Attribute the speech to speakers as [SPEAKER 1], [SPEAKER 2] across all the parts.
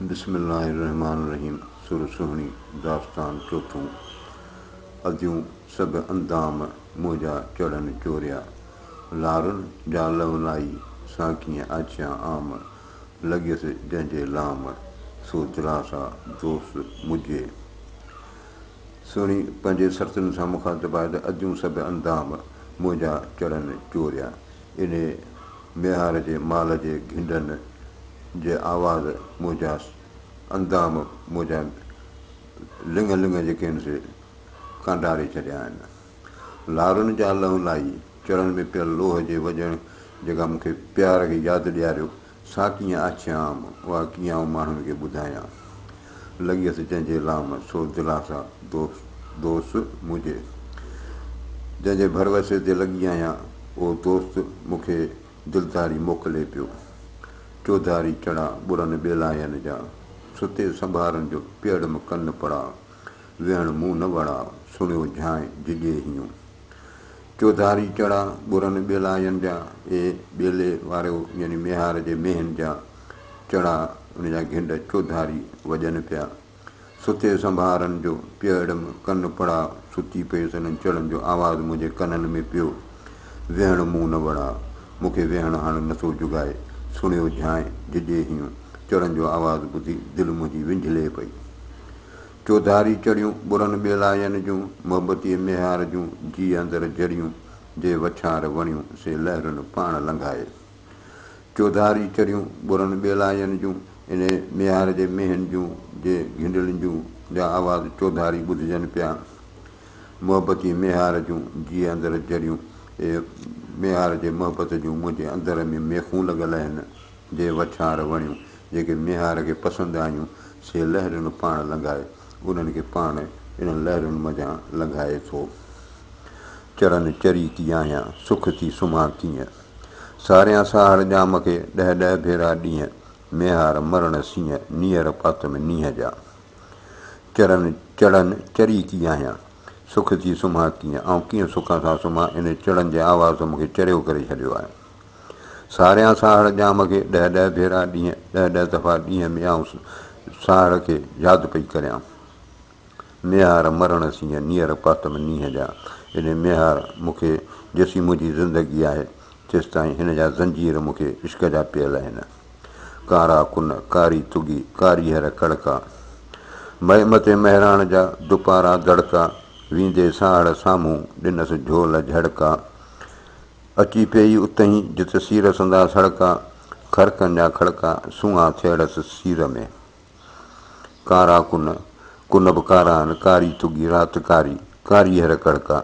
[SPEAKER 1] بسم الله الرحمٰن الرحيم سر سهڻي داستان چوٿون اديون سگهه اندام منهنجا چڙن چوريا لارن جا لونائي سان ڪيئن آڇيان عام لڳيس جنهن جي لام سو دلاسا دوست مجهي سهڻي پنهنجي سرتين سان مخاطب آهي ته اديون سگهه اندام منهنجا چڙن چوريا. انهيء ميهار جي مال جي گهنڊن جي آواز موجانس اندام موجان لڱ لڱ جي ڪين سي ڪانڊاري ڇڏيا آهن. لارن جا لهو لاهي چڙهڻ ۾ پيل لوهه جي وڄڻ جيڪا مون کي پيار کي ياد ڏياريو سا ڪيئن آڇي عام، اها ڪيئن آئون ماڻهن کي ٻڌايان. لڳيس جنهن جي لام، سو دلاسا دوس دوس مجهي. جنهن جي ڀروسي تي لڳي آهيان، اهو دوست مون کي دلداري موڪلي پيو. چوڌاري چڙا ٻرن ٻيلاين جا، ستي سنڀارن جو پيئڙم ڪن پڙا، ويهڻ مون نه وڙا، سڻيو جھانء جھڄي هيون. چوڌاري چڙا ٻرن ٻيلاين جا، اي ٻيلي واريو يعني ميهار جي مينهن جا چڙا ان جا گهنڊ چوڌاري وڄن پيا. ستي سنڀارن جو پيئڙم ڪن پڙا ستي پيس انهن چڙن جو آواز منهنجي ڪنن ۾ پيو ويهڻ مون نه وڙا مون کي ويهڻ هاڻ نه ٿو جڳائي سڻيو جھانء جھجي هيون چڙن جو آواز ٻڌي دل منهنجي وينجهلي پئي چوڌاري چڙيون ٻرن ٻيلاين جون، محبتيء ميهار جون جيء اندر جڙيون، جي وڇار وڻيون سي لهرن پاڻ لنگهائي. چوڌاري چڙيون ٻرن ٻيلاين جون، انهيء ميهار جي مينهن جون، جي گهنڊلين جون جا آواز چوڌاري ٻڌجن پيا. محبتيء ميهار جون جيء اندر جڙيون، اي ميهار جي محبت جون منهنجي اندر ۾ ميخون لڳل آهن. جي وڇاڻ وڻيون، جيڪي ميهار کي پسند آيون، سي لهرون پاڻ لنگهائي، انهن کي پاڻ انهن لهرن منجهان لنگهائي ٿو. چرن چري ٿي آهيان، سک ٿي سمهان ڪيئن. ساريان ساهڙ ڄام کي، ڏهه ڏهه ڀيرا ڏينهن. ميهار مرڻ سينهن، نيئر پاتم نينهن جا. چرن چڙن چري ٿي آهيان، سک ٿي سمهان ڪيئن. آئون ڪيئن سک سان سمهان، انهي چڙن جي آواز ته مون کي چريو ڪري ڇڏيو آهي. ساريان ساهڙ ڄام کي ڏهه ڏهه ڀيرا ڏينهن ڏهه ڏهه دفعا ڏينهن ۾ آئون ساهڙ کي ياد پئي ڪريان ميهار مرڻ سينهن نيئر پاتم نينهن جا اڙي ميهار مون کي جيسين منهنجي زندگي آهي تيستائين هن جا زنجير مون کي عشق جا پيل آهن ڪارا ڪن ڪاري تڳي ڪاري هر ڪڙڪا مئي متي مهراڻ جا دپارا دڙڪا ويندي ساهڙ سامهون ڏنس جهول جهڙڪا اچي پيئي اتهين، جت سير سنداس هڙڪا، خرقن جا کڙڪا، سونهان ٿيڙس سير ۾. ڪارا ڪن، ڪن به ڪارا آهن، ڪاري تڳي رات ڪاري، ڪاريهر ڪڙڪا،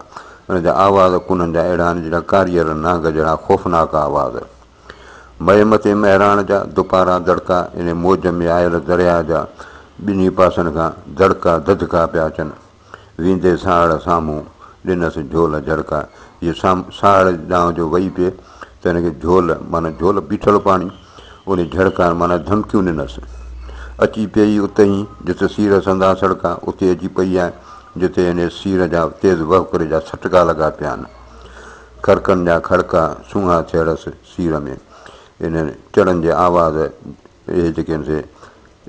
[SPEAKER 1] ان جا آواز ڪنن جا اهڙا آهن، جهڙا ڪاريهر نانگ جهڙا خوفناڪ آواز. مئي متي مهراڻ جا، دپارا دڙڪا، ان موج ۾ آيل درياء جا، ٻنهي پاسن کان دڙڪا، دڌڪا پيا اچن. ويندي ساهڙ سامهون ڏنس جهول جهڙڪ جي ساهڙ ڏانهن جو وئي پئي ته هن کي جهول معنيٰ جهول بيٺل پاڻي انهي جهڙڪائڻ معنيٰ ڌمڪيون ڏنس اچي پئي اتهين جت سير سندان سڙڪ اتي اچي پئي ۽ جتي هن سير جا تيز وهڪري جا سٽڪا لڳا پيا آهن کڙڪن جا کڙڪا سونهان ٿيڙس سير ۾ انهن چڙن جي آواز اهي جيڪي هن سي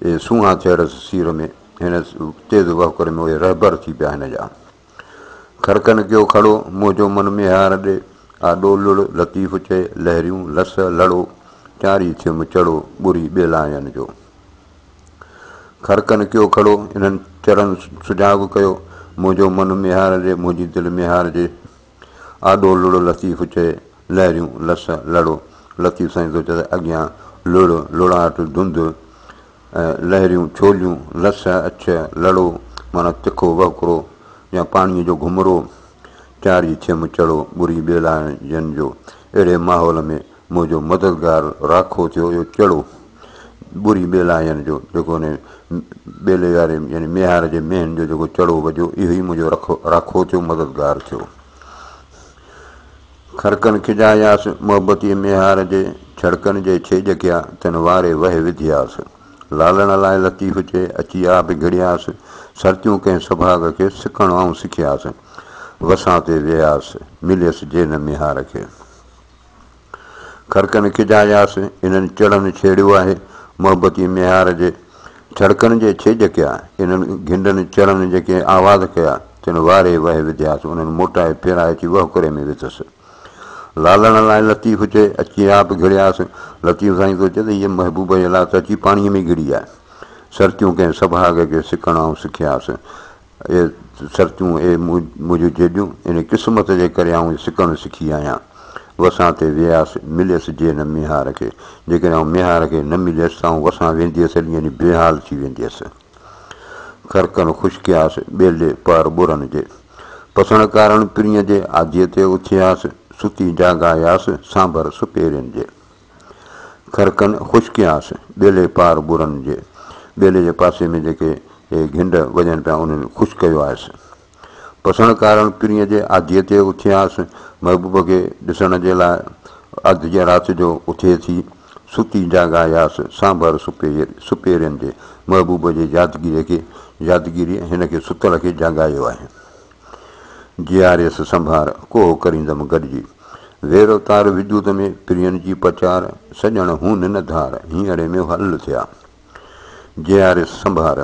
[SPEAKER 1] اهي سونهان ٿيرس سير ۾، هن تيز وهڪر ۾ اهي رهبر ٿي پيا هن جا. خرقن ڪيو کڙو، منهن جو من ميهار ڏي، آ ڏو لڙ، لطيف چئي، لهريون لس لڙو، چاري ٿيم چڙو، ٻري ٻيلاين جو. خرقن ڪيو کڙو، انهن چرن سجهاڳ ڪيو، منهنجو من ميهار ڏي، منهنجي دل ميهار جي. آڏو لڙو لطيف چئي لهريون لس لڙو لطيف سائين ٿو چئي ته اڳيان لڙ لڙاٽ ڌنڌ ۽ لهريون ڇوليون لس اڇ لڙو معنيٰ تکو وهڪرو يا پاڻيء جو گهمرو چاري ڇيم چڙو ٻري ٻيلائڻ جن جو اهڙي ماحول ۾ منهنجو مددگار راکو ٿيو اهو چڙو ٻري ٻيلاين جو جيڪو ان ٻيلي واري يعني ميهار جي مينهن جو جيڪو چڙو وجهيو اهو ئي منهنجو رکو راکو ٿيو مددگار ٿيو خرڪن کجاياس محبتي ميهار جي ڇڙڪن جي ڇيڄ ڪيا تن واري وهي وڌياس لالڻ لاء لطيف چي اچي آ به گهڙياس سرتيون ڪنهن سڀاڳ کي سڪڻ آئون سکياس وسان تي وياس مليس جي نه ميهار کي کڙڪن کجا ياس، انهن چڙن ڇيڙيو آهي، محبتي ميهار جي. ڇڙڪن جي ڇيڄ ڪيا، انهن گهنڊن چڙن جيڪي آواز ڪيا، تن واري وهي وڌياس، انهن موٽائي ڦيرائي ٿي وهڪري ۾ وڌس. لالڻ لاء لطيف چئي، اچي آپ گهڙياس. لطيف سائين ٿو چئي ته هيء محبوبه جي لاء ته اچي پاڻيء ۾ گهڙي آء. سرتيون ڪنهن سڀاڳ جي سڪڻ آئون سکياس. اي سرتيون، اي منهنجون جيڏيون، ان قسمت جي ڪري آئون سڪڻ سکي آهيان. وسان تي وياس، مليس جي نه ميهار کي. جيڪڏهن آئون ميهار کي نه مليس ته آئون وسان ويندي هئس هلي يعني بي حال ٿي ويندي هئس. خرقن خشڪي آس، ٻيلي پهر ٻرن جي. پسڻ ڪارڻ پرينء جي، آڌيء تي اٿي آس، ستي جاڳاياس، سانڀر سپهرين جي. خرقن خشڪيانس، ٻيلي پار ٻرن جي، ٻيلي جي پاسي ۾ جيڪي اهي گهنڊ وڄن پيا انهن خوش ڪيو آهيس. پسڻ ڪارڻ پرينء جي آڌيء تي اٿيانس، محبوب کي ڏسڻ جي لاء، آڌ جي رات جو اٿي ٿي، ستي جاڳاياس، سانڀر سپيرين جي، محبوب جي يادگيري کي يادگيري هن کي ستل کي جاڳايو آهي. جياريس سنڀار ڪوهه ڪريندم گڏجي. ويرو تار وجود ۾ پرين جي پچار، سڄڻ هون نه ڌار، هينئڙي ۾ حل ٿيا. جياريس سنڀار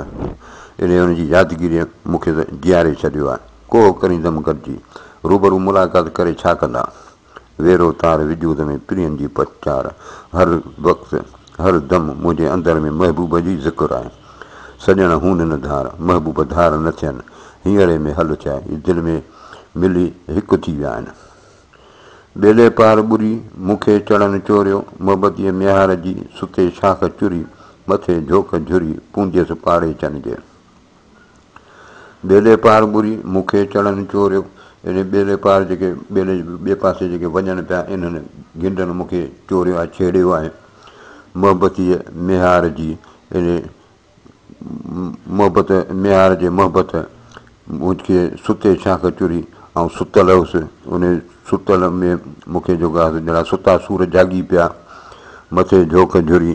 [SPEAKER 1] اڙي ان جي يادگيريء مون کي ته جياري ڇڏيو آهي. ڪوهه ڪريندم گڏجي. روبرو ملاقات ڪري ڇا ڪندا؟ ويرو تار وجود ۾ پرين جي پچار هر وقت هر دم منهنجي اندر ۾ محبوب جي ذڪر آهي سڄڻ هون نه ڌار محبوب ڌار نه ٿين هينئري ۾ هل چاء اي دل ۾ ملي هڪ ٿي ويا آهن ٻيلي پار ٻري مون کي چڙن چوريو محبت جي ميهار جي ستي شاخ چري مٿي جهوڪ جهري پونجيس پاڙي چن جي. ٻيلي پار ٻري مون کي چڙن چوريو. اڙي ٻيلي پار جيڪي ٻيلي جي ٻئي پاسي جيڪي وڃن پيا انهن گنڊن مون کي چوريو آهي ڇيڙيو آهي محبتيء ميهار جي اڙي محبت ميهار جي محبت مون کي ستي شاخ چري آئون ستل هيس انهي ستل ۾ مون کي جوڳا هيس جهڙا ستا سور جاڳي پيا مٿي جهوڪ جهري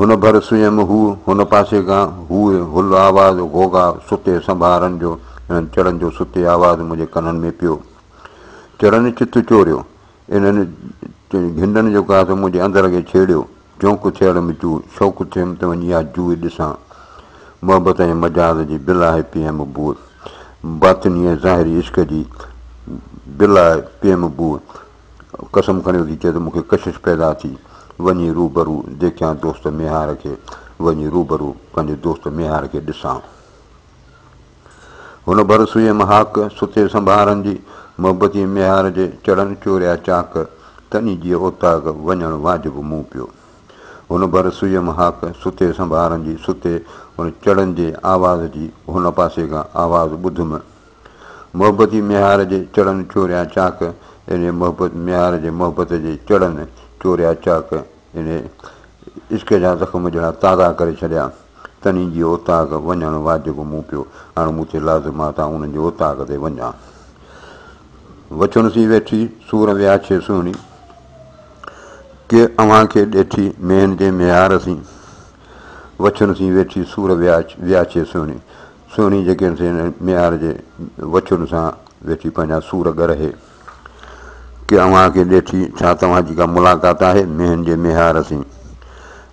[SPEAKER 1] هن ڀر سويم هو هن پاسي کان هوء هل آواز غوغا ستي سنڀارن جو انهن چڙن جو ستي آواز منهنجي ڪنن ۾ پيو چرن چت چوريو انهن گهنڊن جو گاس منهنجي اندر کي ڇيڙيو جهونڪ ٿيڙ م چو شوق ٿيم ته وڃي اها جوء ڏسان محبت ۽ مجاز جي بلا هي پي ايم بوء باطني ۽ ظاهري عشق جي بلا پي ايم بوء قسم کڻيو ٿي چئي ته مون کي ڪشش پيدا ٿي وڃي روبرو ديکيان دوست ميهار کي وڃي روبرو پنهنجي دوست ميهار کي ڏسان هن ڀر سوئي مهاڪ ستي سنڀارن جي محبتي ميهار جي چڙن چوريا چاڪ تني جي اوطاق وڃڻ واجب مون پيو هن ڀر سوئي مهاڪ ستي سنڀارن جي ستي ان چڙن جي آواز جي هن پاسي کان آواز ٻڌم محبتي ميهار جي چڙن چوريان چاڪ انهي محبت ميهار جي محبت جي چڙن چوريا چاڪ انهي عشق جا زخم جهڙا تازا ڪري ڇڏيا تنهي جي اوطاق وڃڻ واجب مون پيو هاڻ مون تي لازم آ ته آئون انهن جي اوطاق تي وڃان وڇن سين ويٺي سور وياڇي سهڻي ڪي اوهان کي ڏيٺي ميهن جي ميهار سين وڇن سين ويٺي سور وياڇي سهڻي سهڻي جيڪي سين ميار جي وڇون سان ويٺي پنهنجا سور ڳرهي ڪي اوهان کي ڏيٺي ڇا توهان جي ڪا ملاقات آهي مينهن جي ميهار سين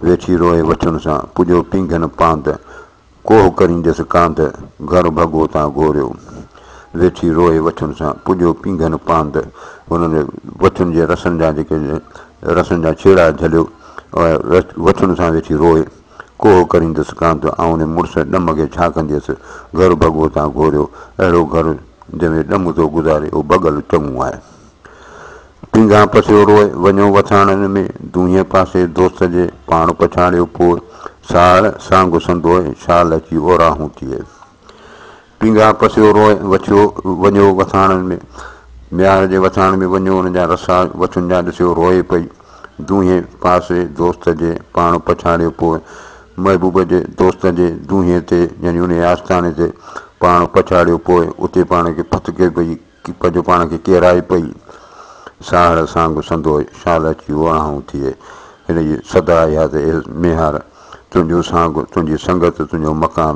[SPEAKER 1] ويٺي روئي وڇون سان پڄو پينگهن پانڌ ڪوهه ڪرينديس ڪانڌ گهر ڀڳو تان گهوريو ويٺي روئي وڇون سان پڄو پينگهن پانڌ هن جي وڇون جي رسن جا جيڪي رسن جا ڇيڙا جهليو وڇون سان ويٺي روئي ڪوهه ڪريندس ڪان ته آئون ان مڙس ڏم کي ڇا ڪنديس. گهر ڀڳو تان گهوريو. اهڙو گهر جنهن ۾ ڏم ٿو گذاري اهو ڀڳل چڱو آهي. پينگهان پسيو روئي وڃو وٿاڻن ۾ دونهين پاسي دوست جي پاڻ پڇاڙيو پوء ساهڙ سانگ سندوء شال اچي اوراهون ٿئي. پينگهه پسيو روء وڇيو وڃيو وٿاڻن ۾، ميار جي وٿاڻ ۾ وڃيو ان جا رسا وڇن جا ڏسيو روئي پئي، دونهين پاسي دوست جي پاڻ پڇاڙيو پوء محبوب جي دوست جي دونهين تي يعني انهيء آستاني تي پاڻ پڇاڙيو پوء اتي پاڻ کي پٿڪي پئي، ڪيپ جو پاڻ کي ڪيرائي پئي ساهڙ سانگ سندو شال اچي ووراهون ٿئي هن جي صدا اها ته اي ميهار تنهنجو سانگ تنهنجي سنگت تنهنجو مڪان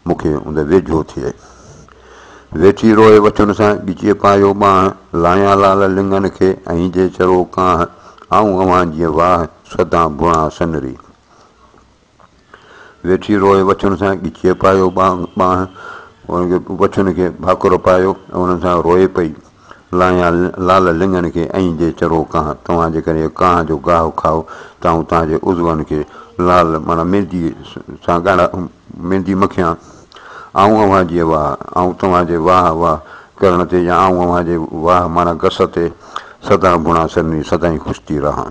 [SPEAKER 1] مون کي اند ويجهو ٿئي ويٺي روئي وٺن سان ڳچي پايو ٻانهن لايان لال لنگن کي ۽ جي چرو ڪانه آئون اوهان جي واهه سدان ڀوڻان سنري ويٺي روئي وڇن سان ڳچيء پايو ٻانهن، ان کي وڇن کي ڀاڪر پايو ۽ انهن سان روئي پئي. لايان لال لڱن کي ائين جي چرو ڪانه، توهان جيڪڏهن اهو ڪانه جو گاهه کائو ته آئون توهان جي عضون کي لال معنيٰ مينديء سان ڳاڙها ميندي مکيان. آئون اوهان جي واهه، آئون توهان جي واهه واهه ڪرڻ تي يا آئون اوهان جي واهه معنيٰ گس تي سدائين ڀڻان سرني سدائين خوش ٿي رهان.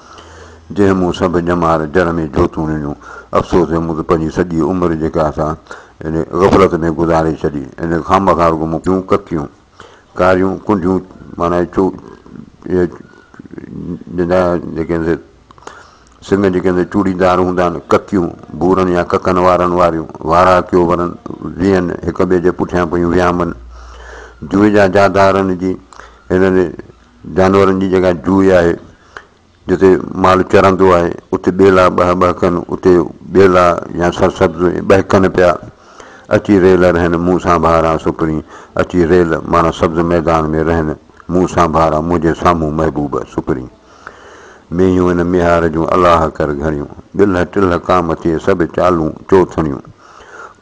[SPEAKER 1] جنهن مون سڀ ڄمار جر ۾ جوتون ڏنيون. افسوس جو مون ته پنهنجي سڄي عمر جيڪا سا ان غفلت ۾ گذاري ڇڏي. ان خامخا رڳو مون ڪيون ڪڪيون، ڪاريون ڪنڊيون معنيٰ چو اهي جندا جيڪي هن سي سڱ جيڪي هن سي چوڙي دار هوندا آهن، ڪڪيون، ڀورن يا ڪڪن وارن واريون، وارا ڪيو ورن، ويهن، هڪ ٻئي جي پٺيان پيون ويامن. جوئي جا جادارن جي هن جانورن جي جيڪا جوئي آهي، جتي مال چرندو آهي، اتي ٻيلا ٻهه ٻهه ڪن، اتي ٻيلا يا سرسبز ٻهڪن پيا. اچي ريل رهن، مون سان ڀارا سپرين، اچي ريل معنيٰ سبز ميدان ۾ رهن، مون سان ڀارا منهنجي سامهون محبوب سپرين. مينهيون ان ميهار جون الاهه ڪر گهڻيون، ٻلهه ٽلهه ڪام ٿئي سڀ چالون چوٿڻيون.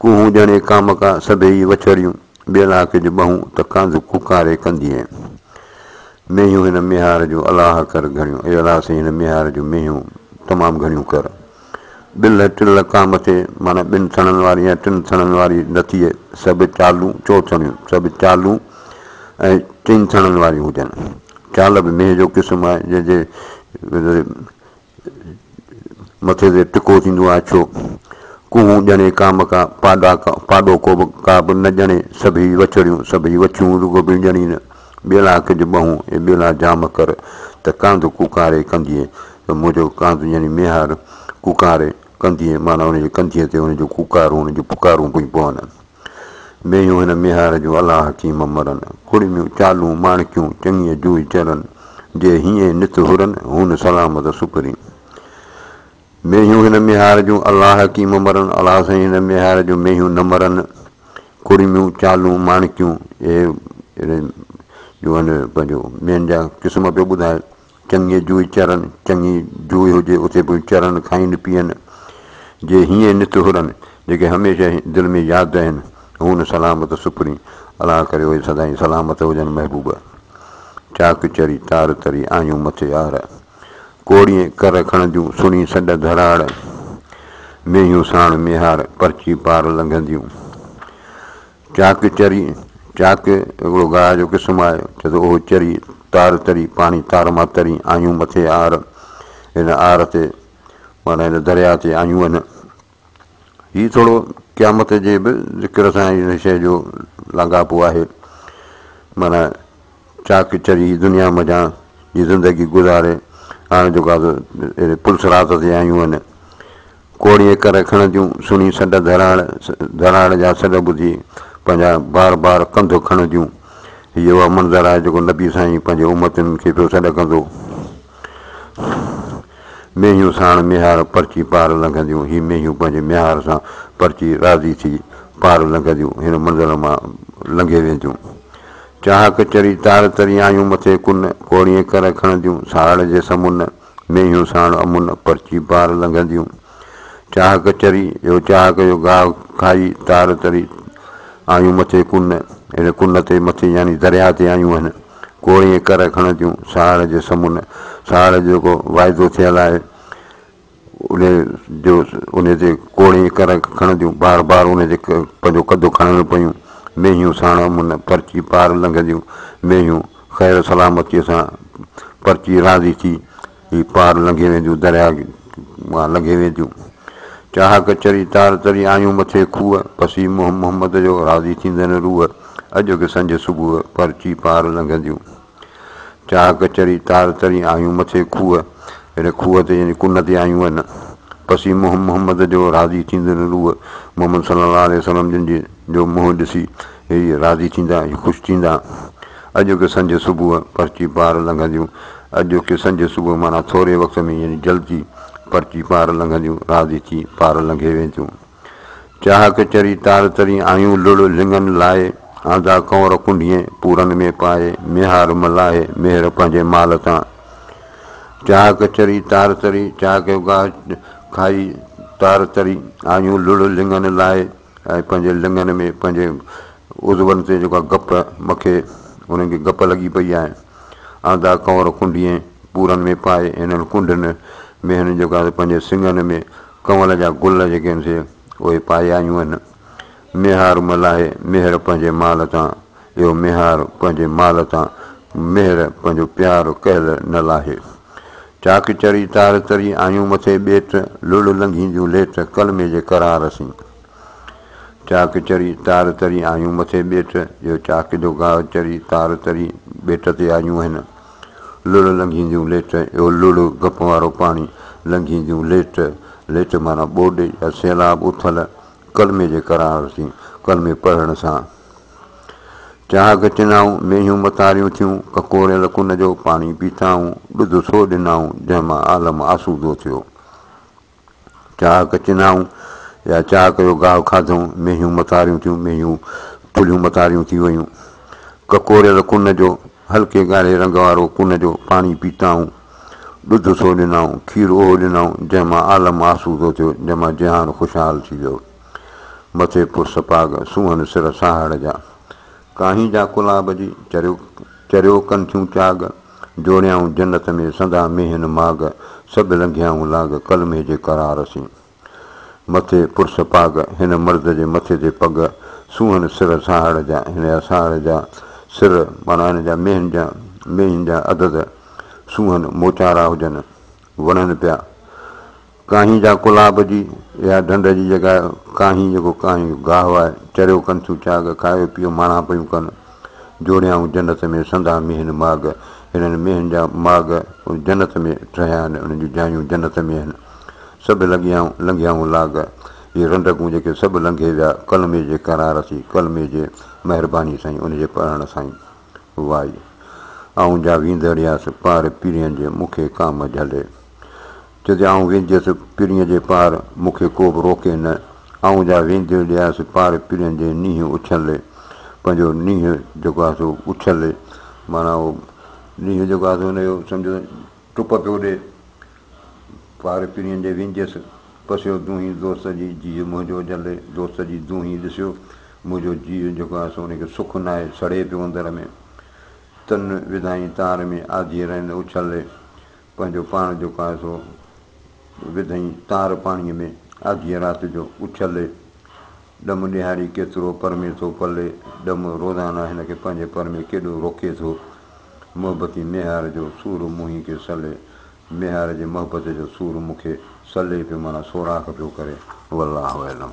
[SPEAKER 1] ڪوهون ڄڻي ڪامڪا سڀيئي وڇڙيون، ٻين آڪي جون ٻهون ته ڪانڌ ڪوڪاري ڪندينء. مينهيون هن ميهار جون الاهه ڪر گهڻيون، اي الاهه سائين هن ميهار جون مينهيون تمام گهڻيون ڪر. ٻلهه ٽل ڪام تي معنيٰ ٻن ٿڻن واري يا ٽن ٿڻن واري نٿيء سڀ چالون، چوٿڻيون، سڀ چالون ۽ چئن ٿڻن واريون هجن. چال به مينهن جو قسم آهي، جنهن جي مٿي تي ٽڪو ٿيندو آهي ڇو؟ ڪوهون ڄڻي ڪام ڪا، پاڏا ڪا، پاڏو ڪو به، ڪا به نه ڄڻي، سڀيئي وڇڙيون، سڀيئي وڇيون، رڳو ٻيڙ ڄڻي نه، ٻيلا ڪج ٻهون، اي ٻيلا جام ڪر، ته ڪانڌ ڪوڪاري ڪنڌيء، ته منهنجو ڪانڌ ڄڻي ميهار، ڪوڪاري، ڪنڌيء، معنيٰ ان جي ڪنڌيء تي ان جو ڪوڪارون، ان جون پڪارون پيون پون. مينهيون هن ميهار جون الهه حڪيم مرن، ڪڙميون چالون ماڻڪيون چڱيء جوئي چرن، جي هينئين نت هرن، هون سلامت سپري. مينهيون هن ميهار جون الهه حڪيم مرن، الهه سائين هن ميهار جون مينهيون نه مرن، ڪڙميون چالون ماڻڪيون اهي جو هن پنهنجو مينهن جا قسم پيو ٻڌائي چڱي جوئي چرن، چڱي جوئي هجي اتي به چرن، کائين پيئن جي هيئن نت هرن، جيڪي هميشه دل ۾ ياد رهن، هون سلامت سپرين، الله ڪري اهي سدائين سلامت هجن محبوب! چاڪ چري تار تري آيون مٿي يار، ڪوڙيئي ڪر کڻنديون سڻي سڏ ڌراڙ، مينهيون ساڻ ميهار پرچي پار لنگهنديون، چاڪ، چري، چاڪ هڪڙو گاهه جو قسم آهي، چي ته اهو چري، تار تري، پاڻي تار مان تري، آهيون مٿي آر، هن آر تي معنيٰ هن درياهه تي آهيون هن. هي ٿورو قيامت جي به ذڪر سان هن شيء جو لاڳاپو آهي، معنيٰ چاڪ چري دنيا منجهان جي زندگي گذاري هاڻ جيڪا سو اهڙي پل صراط تي آيون هن. ڪوڙي اڪر کڻنديون سڻي سڏ ڌراڙ ڌراڙ جا سڏ ٻڌي پنهنجا بار بار ڪنڌ کڻنديون. هي اهو منظر آهي جيڪو نبي سائين پنهنجي امتين کي پيو سڏ ڪندو. مينهيون ساڻ ميهار پرچي پار لنگهنديون هي مينهيون پنهنجي ميهار سان پرچي راضي ٿي پار لنگهنديون هن منظر مان لنگهي وينديون. چاهڪ چري تار تري آيون مٿي ڪن، ڪوڙيئي ڪر کڻنديون ساهڙ جي سمن، مينهيون ساڻ امن، پرچي پار لنگهنديون. چاهڪ چري يو چاهڪ يو گاهه کائي تار تري آيون مٿي ڪن، ان ڪن تي مٿي يعني درياهه تي آيون اهن، ڪوڙيئي ڪر کڻنديون ساهڙ جي سمن، ساهڙ جو جيڪو واعدو ٿيل آهي، انهيء جو انهيء جي ڪوڙي ڪر کڻ جون بار بار انهيء جي پنهنجو قد کڻڻ پيون مينهيون ساڻ امن پرچي پار لنگهنديون مينهيون خير سلامتيء سان پرچي راضي ٿي هي پار لنگهي وينديون درياء مان لنگهي وينديون چاهڪ چري تار تري آيون مٿي کوهه پسي محمد جو راضي ٿيندن روح اڄ به سنج صبح پرچي پار لنگهنديون چاهه ڪچري تار ترين آيون مٿي کوهه، اهڙي کوهه تي جنهنجي ڪن تي آيون هن. پسي منهن محمد جو راضي ٿيندڙ روح، محمد صلي الله عليه وسلم جن جي جو منهن ڏسي هي راضي ٿيندا، هي خوش ٿيندا. اڄوڪي سنجهه صبح پرچي پار لنگهنديون، اڄوڪي سنجهه صبح معنيٰ ٿوري وقت ۾ يعني جلدي پرچي پار لنگهنديون، راضي ٿي پار لنگهي وينديون. چاهڪ چري تار تري آيون لڙ لڱن لاهي آندا ڪنور ڪنڍين پورن ۾ پائي ميهار ملاهي ميهر پنهنجي مال تان چاهڪ چري تار تري چاهڪ جو گاهه کائي تار تري آيون لڙ لڱن لاهي ۽ پنهنجي لڱن ۾ پنهنجي عضون تي جيڪا گپ مکي انهن کي گپ لڳي پئي آهي آندا ڪنور ڪنڍين پورن ۾ پائي انهن ڪنڍن ۾ هن جيڪا پنهنجي سنگهن ۾ ڪنول جا گل جيڪي آهن سي اهي پائي آيون آهن. ميهار ملاهي ميهر پنهنجي مال تان اهو ميهار پنهنجي مال تان ميهر پنهنجو پيار ڪهل نه لاهي. چاڪ چري تار تري آيون مٿي ٻيٽ لڙهه لنگهين جون ليٽ ڪلمي جي قرار سين. چاڪ چري تار تري آيون مٿي ٻيٽ اهو چاڪ جو گاهه چري تار تري ٻيٽ تي آيون آهن. لڙ لنگهينديون ليٽ، اهو لڙ، گپ وارو پاڻي، لنگهينديون ليٽ، ليٽ معنيٰ ٻوڏ يا سيلاب اٿل ڪلمي جي قرار سين ڪلمي پڙهڻ سان چهاڪ چنائون، مينهيون متاريون ٿيون، ڪڪوريل ڪن جو پاڻي پيتائون، ڏڌ سو ڏنائون، جنهن مان عالم آسودو ٿيو. چاهڪ چنائون يا چاهڪ جو گاهه کاڌئون، مينهيون متاريون ٿيون، مينهيون ٿلهيون متاريون ٿي ويون. ڪڪوريل ڪن جو، هلڪي ڳاڙهي رنگ وارو ڪن جو، پاڻي پيتائون. ڏڌ سو ڏنائون، کير اهو ڏنائون، جنهن مان عالم آسودو ٿيو، جنهن مان جهان خوشحال ٿي ويو. مٿي پرس پاڳ، سونهن سر ساهڙ جا. ڪاهين جا ڪلاب جي، چريو چريو ڪن ٿيون چاڳ، جوڙيائون جنت ۾ سدا مينهن ماڳ، سڀ لنگهيائون لاڳ، ڪلمي جي قرار سين. مٿي پرس پاڳ، هن مرد جي مٿي تي پڳ، سونهن سر سهاڙ جا، هن اسهاڙ جا، سر معنيٰ هن جا مينهن جا، مينهن جا عدد، سونهن موچارا هجن، وڙهن پيا، ڪانهين جا ڪلها ڀڄي ويا ڍنڍ جي جڳهه ڪانهين جيڪو ڪانهين جو گاهه آهي چريو ڪن ٿيون چاڳ کائي پيئو ماڻها پيون ڪن جوڙيائون جنت ۾ سندا مينهن ماڳ هنن مينهن جا ماڳ جنت ۾ ٺهيا آهن انهن جون جايون جنت ۾ آهن سڀ لڳيائون لنگهيائون لاڳ اهي رنڊڪون جيڪي سڀ لنگهي ويا ڪلمي جي قرار سي ڪلمي جي مهرباني سائين ان جي پڙهڻ سائين وائي آئون جا ويندڙياس پار پيرين جي مون کي ڪام جهلي. چي تي آئون وينديس پرينء جي پار، مون کي ڪو به روڪي نه، آئون جا ويندي لياس پار پرين جي نينهن اڇلي، پنهنجو نينهن جيڪو آهي سو اڇلي معنيٰ اهو نينهن جيڪو آهي سو ان جو سمجهو ٽپ پيو ڏي، پار پرين جي وينديس، پسيو دونهين دوست جي جيء منهنجو جلي، دوست جي دونهين ڏسيو، منهنجو جيء جيڪو آهي سو ان کي سک ناهي، سڙي پيو اندر ۾، تن وڌائين تار ۾ آڌيء رئند اڇلي، پنهنجو پاڻ جيڪو آهي سو وڌئين تار پاڻيء ۾، آڌيء رات جو اڇلي، ڏم ڏيهاري ڪيترو پرمي ٿو پلي، ڏم روزانه هن کي پنهنجي پر ۾ ڪيڏو روڪي ٿو، محبتي ميهار جو سور موهين کي سلي، ميهار جي محبت جو سور مون کي سلي پيو معنيٰ سوراخ پيو ڪري، والله اعلم.